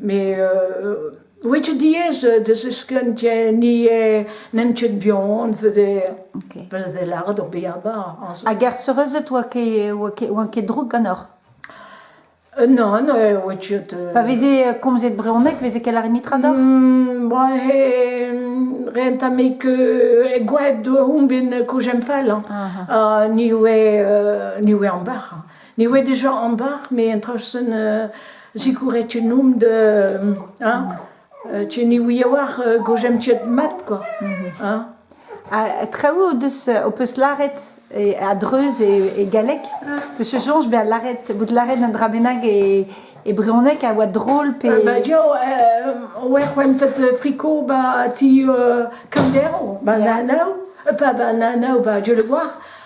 Mes ouie ket diaes da ziskenn ni n'eemp ket buan veze veze lâret hor bihabañ aze. Hag er seurezed oa ket oa ket droug ganeoc'h? Non, oa ket... Pa veze komzet brezhoneg veze ket lâret netra deoc'h? Ren 'ta me ket gwad on bet kouzemfall ni oe ni oe ambac'h. Ne oe dija ambar, met un traoù sonn sikouret tchenomp da hein tche ni ouie war gozh emp tcheet mat kwa hein ha traoù o deus ho peus lâret a-dreuz e galleg peus o soñj bezañ lâret bout lâret un dra bennak e brezhoneg a oa drol pe ba dia oe c'hwentet friko ba ti kamdero ba nanav pa ba nanav ba dieul war